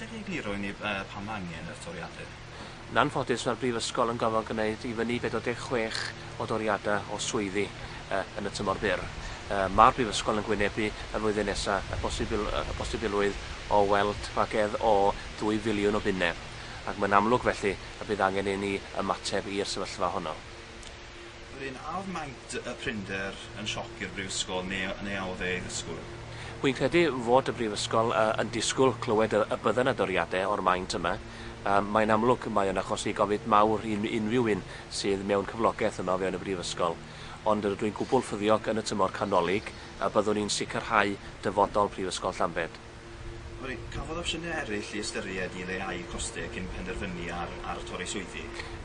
Allet ti egluro i ni pam mae angen y toriadau? Yn anffodus, mae'r Brifysgol yn gorfod gwneud i fyny 46 o doriadau o swyddi yn y tymor byr. Mae'r Brifysgol yn gwynebu y flwyddyn nesaf y posibilrwydd o weld rhagedd o ddwy filiwn o bunnau, ac mae'n amlwg felly y bydd angen i ni ymateb i'r sefyllfa honno. Brynaf maent y prinder yn sioc i'r Brifysgol neu neu a oedd e ei ddisgwyl? Wi'n credu fod y Brifysgol yn disgwyl clywed y y bydden y doriade o'r maint yma. Yym mae'n amlwg mae o'n achosi gofid mawr i unrhyw un sydd mewn cyflogeth yma o fewn y Brifysgol. Ond rydw i'n gwbwl ffyddiog yn y tymor canolig y byddwn ni'n sicrhau dyfodol Prifysgol Llambed. Sori, cafodd opsiynau eraill eu ystyried i leihau costau cyn penderfynu ar ar torri swyddi?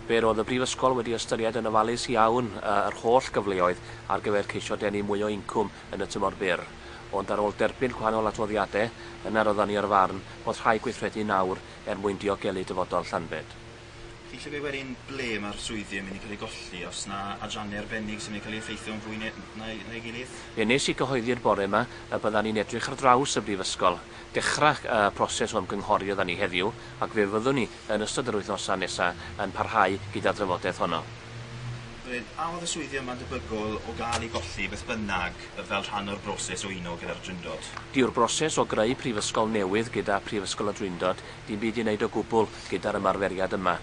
Fe roedd y Brifysgol wedi ystyried yn ofalus iawn yr holl gyfleoedd ar gyfer ceisio denu mwy o incwm yn y tymor byr, ond ar ôl derbyn gwahanol adroddiadau, yna roeddwn ni o'r farn bod rhaid gweithredu nawr er mwyn diogelu dyfodol Llanbed. Chi isio gweud wedyn ble ma'r swyddi yn mynd i ca'l eu golli, os 'na adrannau arbennig sy'n mynd i ca'l eu effeithio'n fwy ne- na ei- na'i gilydd? Ie, nes i gyhoeddi'r bore 'ma y byddan ni'n edrych ar draws y Brifysgol. Dechra y proses o ymgynghori oeddan ni heddiw, ac fe fyddwn ni, yn ystod yr wythnosa nesa, yn parhau gyda'r drafodaeth honno. Wedyn, a oedd y swyddi yma'n debygol o gael eu golli beth bynnag fel rhan o'r broses o uno gyda'r Drindod? Dyw'r broses o greu Prifysgol newydd gyda Phrifysgol y Drindod ddim byd i wneud o gwbwl Gyda'r ymarferiad yma,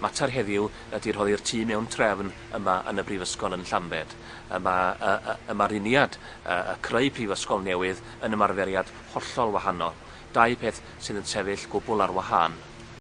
mater heddiw ydy rhoddi'r tu mewn trefn yma yn y Brifysgol yn Llambed. Y mae y y ymaruniad, y y creu prifysgol newydd yn ymarferiad hollol wahanol. Dau peth sydd yn sefyll gwbl ar wahân.